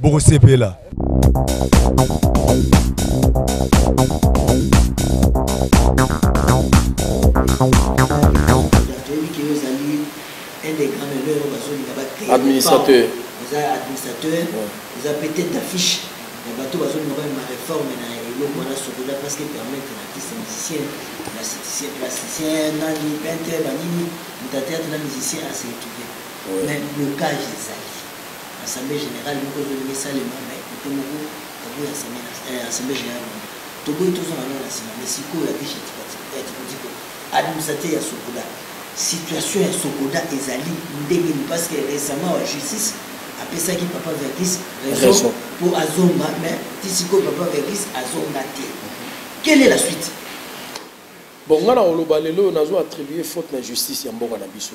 bokosepela administrateur eza administrateur eza mpe tete d'affiche ya bato bazolinga balema réforme na eloko wana sokola parce que permettre na artiste musicien plasticien plasticien nani peintre banini moto ateatre na musicien aseretrouve mais blocage ezali Assemblee generale moko ezolinga esalema mais kote moko baboyi eh, assemblee generale moko toboyi tozonga nao na nsima mais sikoyo ya vishe ya tikotiko administrateur ya sokoda situation ya sokoda ezali ndenge ni parce que récemment wa justice apesaki papa vergis raison mpo azonga mais ti sikoyo papa vergis azonga te quelle est la suite bon ngai na koloba lelo oyo nazo attribue faute na justice ya mboka na biso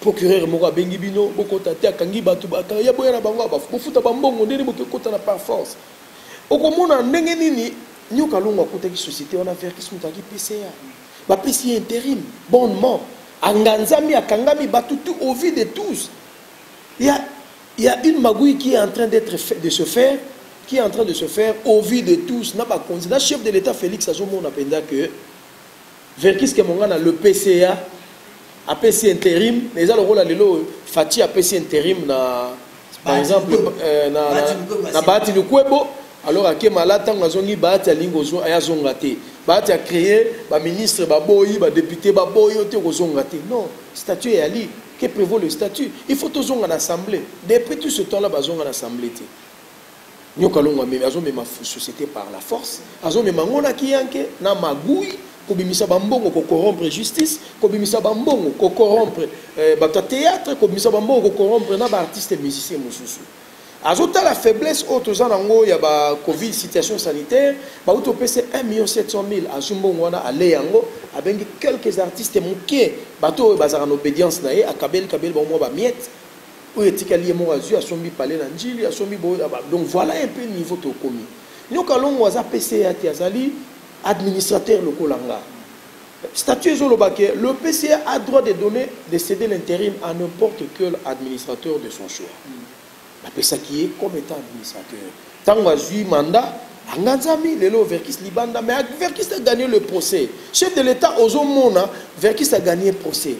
Procureur moko abengi bino bokota te akangi bato bakanga ya boya na bango abafu bofuta bambongo ndeni boke kota na par force okomona ndenge nini nyoka longo akutaki société wana verkis moto alaki pca bapesi ye interim bonnement anganzami akangami bato tu au vie de tous ya il y a une magouille qui est en train d'être fait, de se faire, qui est en train de se faire au vu de tous, na bakonzi, na chef de l'État Félix azomona penda que Verkys Kemongana le PCA apesi interim mais eza lokola lelo oyo Fatshi apesi interim na par exemple euh, na, na, na Bahati Lukwebo alors ake mala ntango azongi Bahati alingi kozwa aya azonga te Bahati acreye baministre baboyi badepute baboyi yo te kozonga te non statut eyali que prévaut le statut il faut tozonga na assemblée depuis tout ce temps là bazonga na assemblée te Nyoka longo amemi azomema société par la force azomema yango na kiyanke na magui kobimisa bambongo kokorompre justice kobimisa bambongo kokorompre eh, bato ya théâtre kobimisa bambongo kokorompre na baartiste musicien mosusu azotala faiblesse oyo toza nango ya ba covid situation sanitaire bauti opesa 1 million 700 mille azwi mbongo wana ale yango abengi quelques artistes moke bato oyo bazalaka na obédience na ye akabeli kabeli bango mwa bamiete oyo etikali ye moko azwi asombi pale na njili asombi boye ah, donc voilà un peu niveau tokomi nyoka longo aza pca te azali administrateur lokola nga statut ezoloba ke le pca a droit de donner de céder l'intérim à n'importe quel administrateur de son choix bapesaki ye comme étant administrateur ntango azwi mandat anganzami lelo verkis libanda mais verkis a gagné le procès chef de l'état ozomona verkis a gagné procès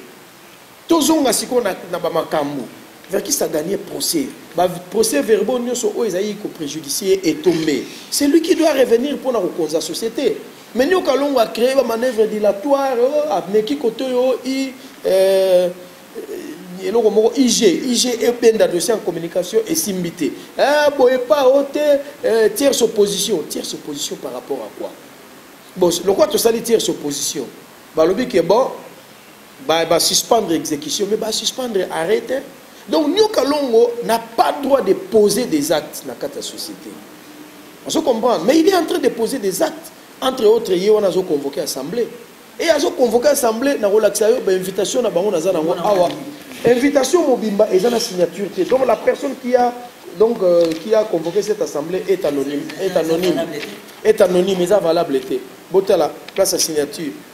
Tozonga sikoyo na, na bamakambo verkiste aganie procès baprocès verbaux nyonso oyo ezalaki koprejudicie ye etombe c'est lui qui doit revenir mpo na kokonza société mais nio kalongo acree bamanœuvre dilatoire oh, ameki kote oyo oh, i euh, euh, eloko moko ig ig ebenda dossier en communication esimbi te eh, boye pa o oh, te euh, tierce opposition tierce opposition par rapport à quoi bon lokola tosali tierce opposition balobi ke bon Ba, ba suspendre execution, mais ba suspendre arrêt te. Donc Nyoka Longo n'a pas droit de poser des actes na kata société. On se comprend, mais il est en train de poser des actes entre autres ye wana azo convoquer assemblée. Et azo convoquer assemblée na relaxa yo ba invitation na bango naza nango awa. Invitation mobimba eza na signature te. Donc la personne qui a donc euh, qui a convoqué cette assemblée est anonyme, est anonyme. Est anonyme, eza valable te. Botala place à signature.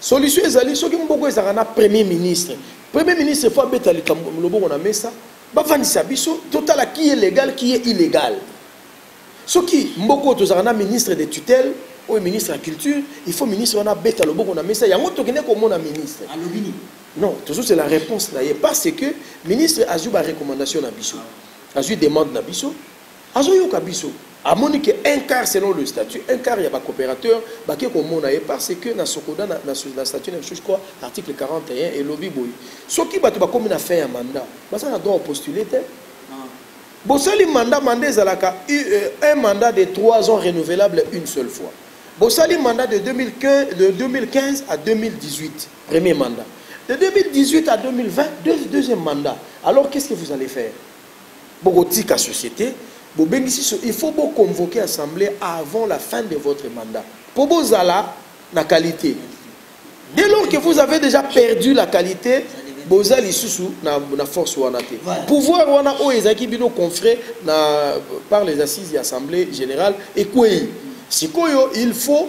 Solution ezali soki mboko ezalaka na premier ministre. Premier ministre faut abeta likambo loboko na mesa, bavandisa biso totala qui est légal, qui est illégal. Soki mboko tozalaka na ministre de tutelle oyo ministre ya culture, il faut ministre wana abeta loboko na mesa yango tokende komona ministre. Alobi nini? Non, toujours c'est la réponse na ye parce que ministre azwi ba recommandation na biso. Azwi demande na biso. Azo yoka biso. Amoni que un quart selon le statut, un quart ya ba cooperateur ba ke ko mona ye par ce que na socoda na na statut na biso je crois article 41 elobi boye soki batu ba komi na fin ya mandat baza na droit au postuler te bosali mandat mandat ezalaka euh, un mandat de 3 ans renouvelable une seule fois bosali mandat de 2015 de 2015 à 2018 premier mandat de 2018 à 2020 deuxième mandat alors qu'est-ce que vous allez faire Bokotika societe bobengisi so il faut bo convoquer assemblee avant la fin de votre mandat po bozala na qualité dès lors que vous avez déjà perdu la qualité boza lisusu na, na force wana te voilà. pouvoir wana oyo ezalaki bino confré na par les assises ya assemblée générale ekwei sikoyo il faut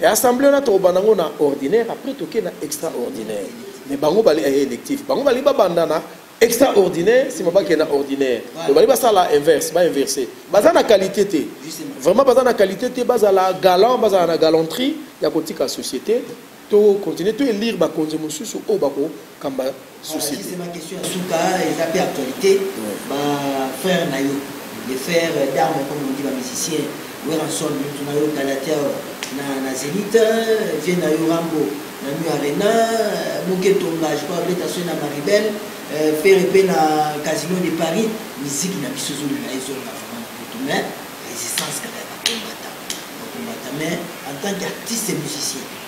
Et assemblée on a trop banango na ordinaire après toke na extraordinaire. Mais bango bali eh, électif. Bango bali ba bandana extraordinaire si mabake na ordinaire donc bali basala inverse ba inverse baza na qualité te vraiment baza na qualité te bazala galant bazala na galanterie ya kotika société to continuer to elire bakonzi mosusu oyo bakokamba société ma question ya suka eza pe actualité ba frère na yo les frères d'armes comme on dit ba musiciens Werrason mutu na yo Galatia na na Zenith vieux na yo Rambo na New Arena Muke Tonga je crois Beta Soy na Maribel euh, Ferre pe na Casino de Paris musique na biso zolo na ezo na vraiment tout mais résistance kaka ya combattant combattant mais en tant qu'artiste musicien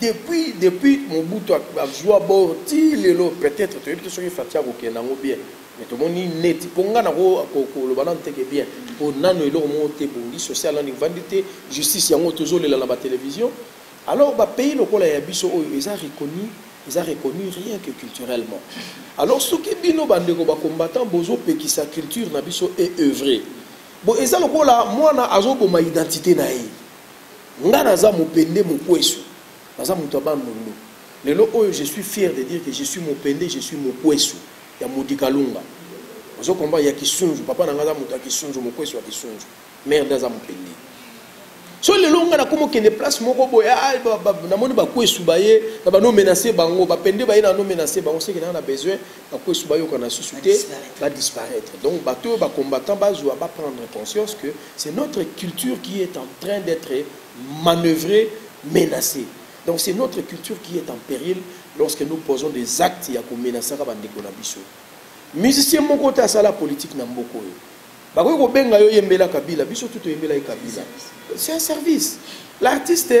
Depuis depuis Mobutu azua bord ti lelo peut etre toyebi te soki Fatshi akokende yango bien mais tomoni neti po nga nako koloba nanu teke bien po nanu eloko moko te ebongi social nanu evandi te justice yango tozolela na ba television alors ba pays lokola ya biso oyo eza reconnu eza reconnu rien que culturellement alors soki bino bandeko ba combattant bozopekisa culture na biso e œuvrer bo eza lokola mwana azoboma identite na ye Nga naza mopende mokuesu. Naza moto ya Bandundu. Lelo oyo je suis fier de dire que je suis mopende, je suis mokuesu ya Mudi Kalunga. Ozo comprendre ya Kisunzu. Papa na nga aza moto ya Kisunzu, mokuesu ya Kisunzu. Mère nde aza mopende. So lelo nga nakomo kende place moko boye ah, ah, namoni bakuesu baye na bano menace bango bapende baye nano menace bango seke naa na besoin bakuesu bayokana susu te badisparaitre donc bato oyo bacombattant bazwa baprendre conscience que C'est notre culture qui est en train d'être manœuvrée, menacée. Donc c'est notre culture qui est en péril lorsque nous posons des actes ya komenasaka bandeko na biso. Musicien moko te asala politique na mboka oyo. Bakoki kobenga yo yembela Kabila, biso tout oyembela ye Kabila. C'est un service. L'artiste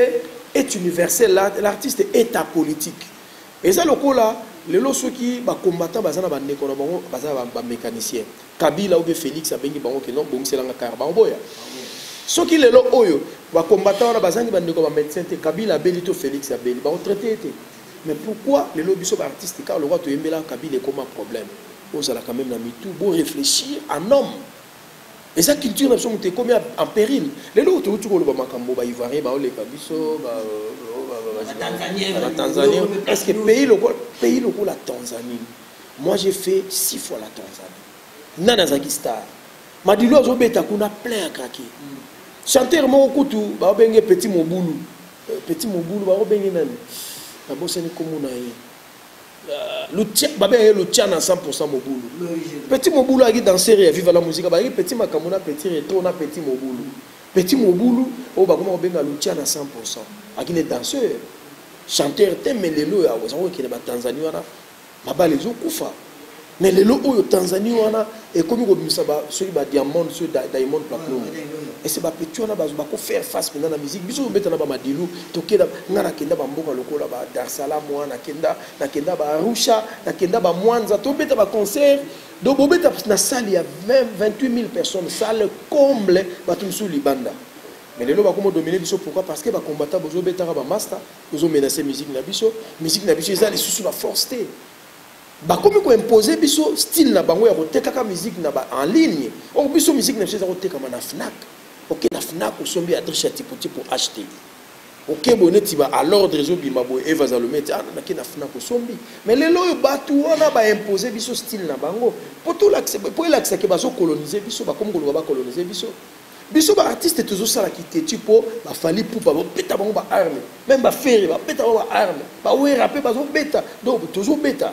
est universel, l'artiste est apolitique. Eza lokola Lelo soki ba combattants baza na ba ndeko na bango baza na ba mecanicien Kabila ou bien Felix abengi bango ke non bongisela nga car baoboya soki lelo oyo ba combattants wana bazangi ba ndeko ba médecin te Kabila abeli to Felix abeli ba traité ete mais pourquoi lelo biso ba artistes car lokola toyembela Kabila ekoma problème ozala quand même na mitu bo réfléchir en homme eza culture na biso moto ekomi en péril lelo touti koloba makambo baivoirien baoleka biso batanzanie est ce que pays lokola pays lokola tanzanie moi j'ai fait six fois la tanzanie nani azalaki star madilu azobeta kuna plein ya krake mm. chanteur moko kutu baobenge petit mobulu euh, petit mobulu baobenge nani nabosani komona ye lutia babe ye lutia na 100% mobulu petit mobulu ayaki danser ya viva la musica bayaki petit makambo na petit retro na petit mobulu petit mobulu oyo bakoma kobenga lutia na 100% ayaki ne danseur chanteur te mais lelo oyo akozakokende batanzanie wana mabala ezokufa mais lelo oyo tanzanie wana ekomi kobimisa soki badiamond soki diamond platinum ese bapeti wana bakofaire face mpenza na musique biso tobeta na bamadilu tokenda ngai nakenda bamboka lokola ba dar salam wana nakenda nakenda baarusha nakenda bamwanza tobeta baconcert donc bobeta na salle ya 28 000 personnes salle comble bato mosusu libanda mais lelo bakoma domine biso pourquoi parce que bacombatant bozobetaka bamasta bozomenase musique na biso musique na biso eza lisusu na force te bakomi ko imposer biso style na bango ya kotekaka musique na ba en ligne or biso musique na biso eza kotekama na fnac oke na fnac osombi ya triche ya tipoti po acheter oke boye neti ba à l'ordre ezobima boye eva zalome ti ah, nake na fnac osombi mais lelo oyo bato wana baimposer biso style na bango po elakisake bazokolonize biso bakomi koloba bakolonize biso biso ba artiste tozosala kiteti mpo bafali pupa babeta bango ba arme meme bafere babeta bango ba arme bawera mpe bazobeta donc tozobeta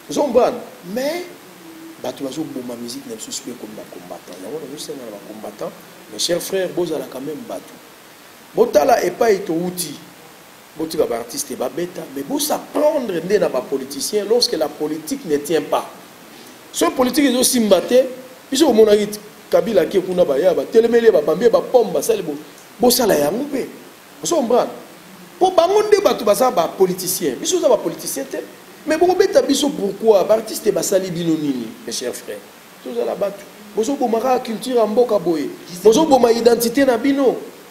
zombran mais bato bazoboma musique na biso siko ekomi bacombattant yango nazosenga na bacombattant mes chers frères bozalaka meme bato botala epai towuti Botika ba artistes ba beta mais bo s'apprendre nde na ba politiciens lorsque la politique ne tient pas. Soki politique ezo simba te biso bomonaki Kabila ake kuna ba ya ba telemeli ba bambi ba pomme ba sali bo bo sala ya mpe. Oso comprendre? Po bango nde bato baza ba politiciens. Biso za ba politiciens te. Mais boko beta biso pourquoi? Ba artistes ba sali bino nini mes chers frères? Tozala batu. Bozo bomaka culture ya mboka boye. Bozo boma identité na bino.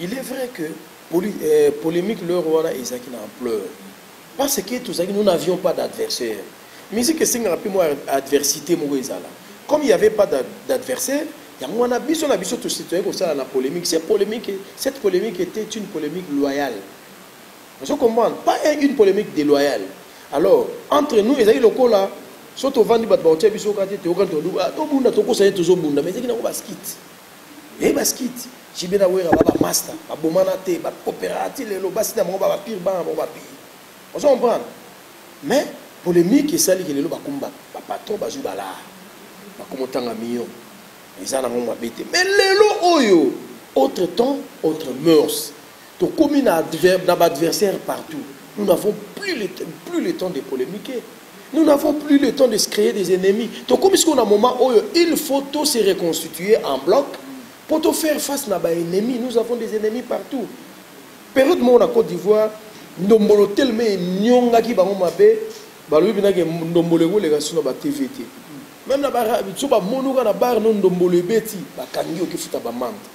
Il est vrai que poli, eh, polemique l'heure wana ezaki na ampleur parce que tozalaki nous n'avions pas d'adversaire musique esengaka mpe mwa adversité moko ezala comme il n'y avait pas d'adversaire yango wana biso na biso tositoyaki kosala na polémique cette polémique cette polémique était une polémique loyale ozo comprendre pas une polémique déloyale alors entre nous ezalaki lokola so tovandi bato bakotia biso kati toyokani tobunda tokosa ye tozobunda mais ezalaki nango baskite Eh basket, JB na Wera ba master, ba bomana te, ba coopérative lelo basi na bango ba pire bana bango ba pire. On se comprend. Mais polémique esali ke lelo ba kumba ba patron ba joue bala. Ba komotanga million. Eza na ngo mabete. Mais lelo oyo autre temps, autre mœurs. Tokomi na adver na ba adversaires partout. Nous n'avons plus le plus le temps de polemiquer. Nous n'avons plus le temps de se créer des ennemis. Tokomi sikoyo na moment oyo il faut to se reconstituer en bloc pour to faire face na ba ennemis. Nous avons des ennemis partout. Période moko na Côte d'Ivoire, ndombolo teleme enyongaki bango mabe, balobi bina ke ndombolo ekoleka sino ba TV te. Même na ba so ba monoka na bar no ndombolo ebeti, bakangi okifuta ba mante.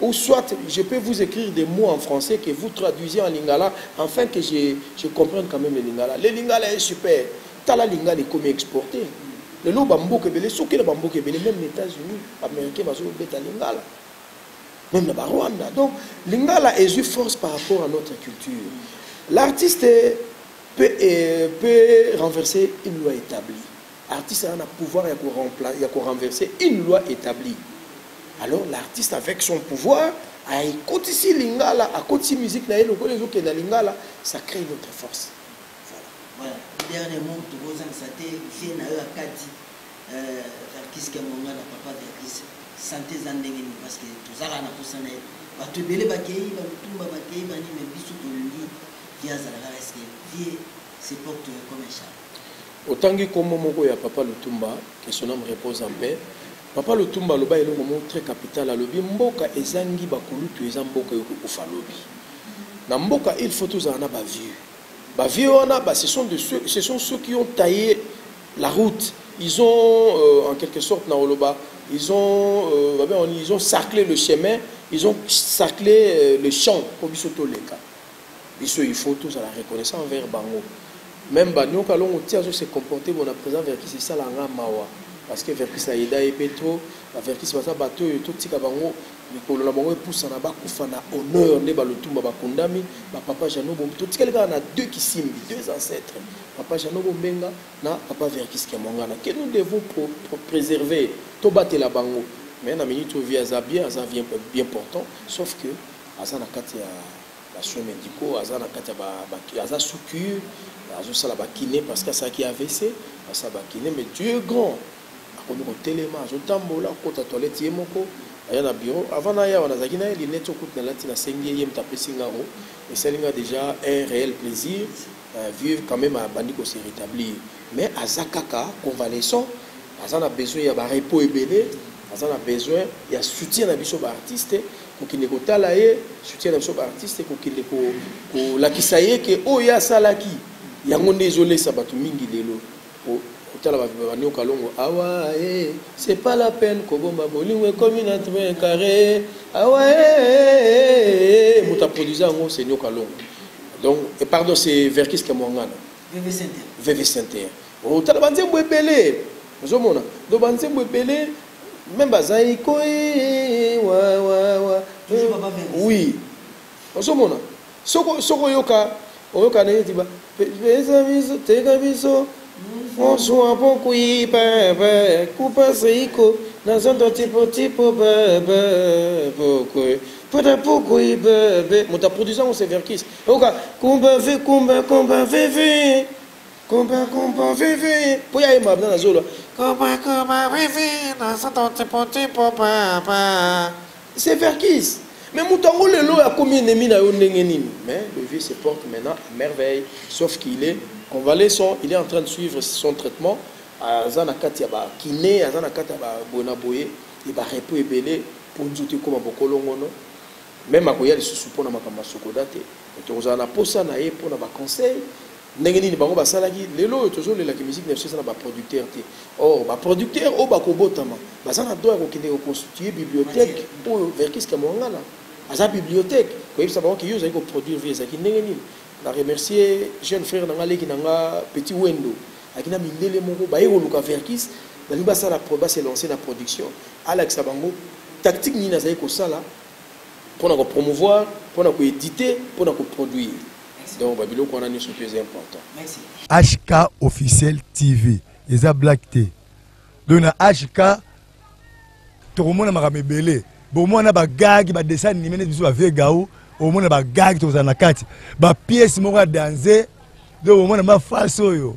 Ou soit je peux vous ecrire des mots en français que vous traduisez en lingala enfin que je, je comprenne quand même le lingala. Le lingala est super. Tala lingala ekomi exporté. lelo bamboka ebele soki na bamboka ebele meme na états-unis baaméricain bazobeta lingala meme na barwanda donc lingala ezwi force par rapport à notre culture l'artiste peut, euh, peut renverser une loi établie Artiste aza na pouvoir ya ko remplacer ya ko renverser une loi etablie. Alors l'artiste avec son pouvoir a ekotisi lingala akotisi musique na ye lokola ezokenda lingala ça crée une autre force. Voilà. Voilà. Dernier mot tokozangisa te vie na yo akati euh Verkis Kiamonga na papa Verkis santé eza ndenge nini parce que tozalaka na posa na ye bato ebele bakei balutumba bakei banini biso tolingi vie azalaka eske vie se porte comme un chat Otangi kombo moko ya papa Lutumba, que son ame repose en paix. Papa Lutumba aloba eloko moko très capital, alobi mboka ezangi ba kulutu eza mboka eko kufa lobi. Na mboka il faut tozala na ba vieux. Ba vieux wana ba ce sont de ceux, ce sont ceux qui ont taillé la route. Ils ont euh, en quelque sorte na oloba, ils ont euh, ils ont cerclé le chemin, ils ont cerclé euh, le champ pour biso toleka. biso il faut tozala reconnaissant envers bango même ba nioka longo ti azo se comporter bon na président verkis esala nga mawa parce que verkis na yeda ye pe trop ba verkis baza bato oyo totika bango mikolo na bango epusana bakufa na honneur nde balutumba bakundami bapapa jano bombe totikali kaka na deux kisimbi deux ancêtres papa jano bombenga na papa verkis kiamwangana que nous devons pro, pro, préserver tobatela bango mais na minute oyo vie aza bien aza bien, bien portant sauf que aza na kati ya ba soins médicaux aza na kati ya ba, ba aza sous cure azosala ba kiné parce que asalaki AVC asala ba kiné mais Dieu est grand akomi kotelema azotambola kota toilette ye moko aya na bureau avant na yawa nazalaki na ye linete okuti nalati nasengi ye ye moto apesi ngango esali nga déjà un réel plaisir euh, vieux quand même abandi ko se rétablir mais aza kaka convalescent aza na besoin ya ba repos ebele aza na besoin ya soutien na biso baartiste kokende kotala ye soutien na biso baartiste kokende kolakisa ye ke oyo ye asalaki yango nde ezolesa bato mingi lelo kotala babani okalongo awa e c'est pas la peine kobomba bolingo ekomi na train carré awa e moto aproduise yango c'est niokalongo donc pardon c'est verkis kamwangana vv center Oh tala ba nzembo ebele ozo mona donc ba nzembo ebele meme bazali ko wa wa wa oui ozo mona soko soko yoka oyoka neti ba pesa biso teka biso Bonsoir, bon oui, bebe, coupa seiko, na zondo tipo tipo bebe, bokwe. Pada pokwe bebe, muta produisant ou severkis. Oka, kumba ve kumba kumba ve ve. Kumba kumba veve po ya yemba na zolo. Kumba kumba veve na sato tipo tipo papa. C'est Verkis. Mais moto yango lelo oyo akomi ennemi na yo ndenge nini mais le vieux se porte maintenant à merveille sauf qu'il est convalescent il est en train de suivre son traitement aza na kati ya bakine aza na kati ya baboye na boye e barepo ebele mpo nzoto ekóma bokolongono meme akoya lisusu mpo na makambo ya sokoda te tokozala na mposa na ye mpo na baconseil Ndenge nini bango basalaki lelo oyo tozo lela ki musique na biso eza na ba producteurs te or ba producteurs oyo bakobotama baza na droit ya kokende ko constituer bibliothèque oyo Verkys Kiamuangana aza bibliothèque koyebisa bango ke yo ozali ko produire vie ezalaki ndenge nini na remercier jeune frère na nga leki na nga petit wendo aki na mindele moko baye koluka Verkys balingi basala ba se lancer na production alakisa bango tactique nini azali kosala mpo na ko promouvoir mpo na ko editer mpo na ko produire donc ba biloko wana nioso mpe eza important merci HK officiel TV eza black te donc na HK tokomona makambo ebele bomona bagagi badessin anime neti biso bavie gao omona bagagi tokozala na kati bapiese moko ya danze donc omona mafasi oyo